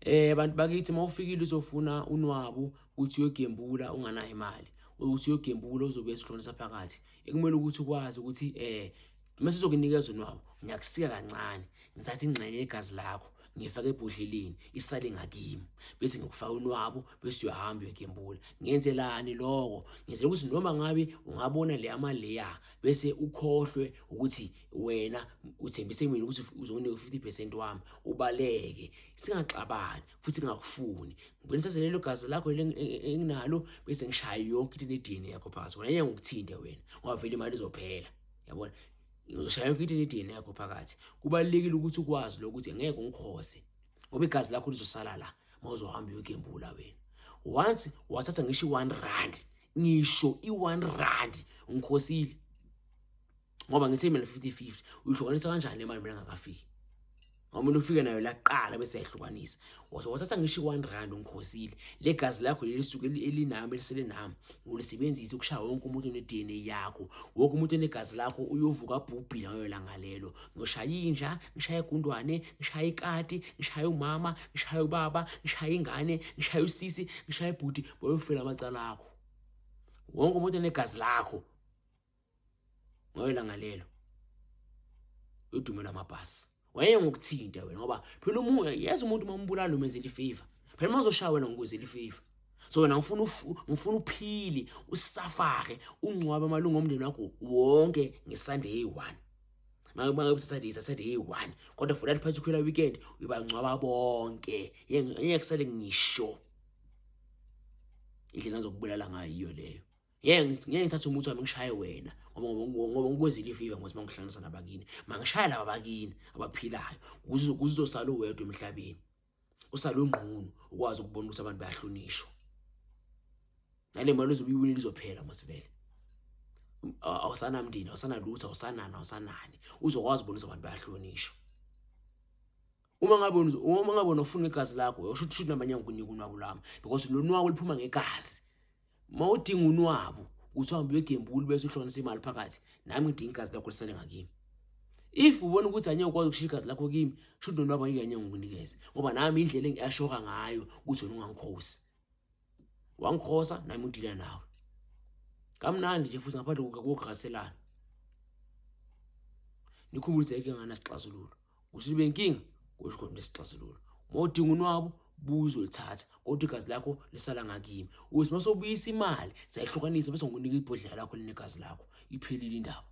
Eh bantu bakithi mawufikile uzofuna unwabu ukuthi uyogembula unganayo imali ukuthi uyogembula uzobuya esihlonisa phakathi ekumele ukuthi ukwazi ukuthi eh mase uzokunikeza unwabu ngiyakusika kancane ngithatha ingxenye yegazi lakho ngifake ebhodleleni isale ngakimi bese ngikufaka unwabu bese uyahamba uyogembula ngenzelani lokho ngenzela ukuthi noma ngabe ungabona le amaleya bese ukhohlwe ukuthi wena uthembise mina ukuthi uzokunika 50% wami ubaleke singaxabani futhi ngingakufuni ngibona sase lelo gazi lakho enginalo bese ngishaya yonke into ne-DNA yakho phakathi wena yeke ngikuthinte wena ngoba vele imali izophela yabona ngizoshaya yonke into ne-DNA yakho phakathi kubalekile ukuthi ukwazi lokuthi ngeke ungikhose ngoba igazi lakho lizosala la mawuzohamba uyogembula wena once wathatha ngisho i-1 rand ngisho i-1 rand ngikhosile ngoba ngithi imali 50-50 uyihlukanisa kanjani le mali mina ngakafiki ngoba umuntu ufike nayo laqala bese yahlukanisa wathatha ngisho i-one rand ungikhosile le gazi lakho leli suke elinami elisele nami ngilisebenzise ukushaya wonke umuntu one-d n a yakho wonke umuntu onegazi lakho uyovuka abhubhile ngayo langa lelo ngiyoshaya inja ngishaye igundwane ngishaye ikati ngishaye umama ngishaye ubaba ngishaye ingane ngishaye usisi ngishaye ibhuti boyofela amacala akho wonke umuntu onegazi lakho ngoyela ngalelo udumo lwamabhasi waye ngokuthinte wena ngoba phela umoya yeza umuntu uma umbulala umeze lifiva phela uma uzoshaya wena ngokuze lifiva so wena ngifuna ngifuna uphili usafake ungcwabe amalungu omndeni wakho wonke ngesande eyi-one makusaturday saturday eyi-one kodwa for that particular weekend uyibangcwaba bonke yengeke kusale ngisho indlela azokubulala ngayo leyo ngeke ngeke ngithathe umuthi wami ngishaye wena ngoba ngoba ngikwezile ifiva ngokuthi mangihlanganisa nabakini mangishaya laba bakini abaphilayo kuzosala uwedwa emhlabeni usale ungqunu ukwazi ukubona ukuthi abantu bayahlonishwa nale mali uzobiwini lizophela masivele awusanamndeni awusanalutho awusanani awusanani uzokwazi ukubona ukuthi abantu bayahlonishwa uma ngabe uma ngabe unofuna igazi lakho usho ukuthi noma nyanga kunika unwabu lami because lo nwabu liphuma ngegazi mawudinga unwabu uthi uhambe uyogembula bese uhlonisa imali phakathi nami ngidinga igazi lakho lisale ngakimi if ubona ukuthi anye ukwazi ukushiya igazi lakho kimi shuthi nonwabu angeke anye ngikunikeze ngoba nami indlela engiashoka ngayo ukuthi wena ungangikhosi wangikhosa nami udila nawe kamnandi nje futhi ngaphandle kokukhaselana nikhumbulise inkinga nganasixazululo kusho ukuthi benkinga kusho khona nesixazululo uma udinga unwabo buzo lithatha kodwa igazi lakho lisala ngakimi uthi uma sobuyisa imali sayihlukanisa bese ngikunika ibhodlela lakho linegazi lakho iphelile indaba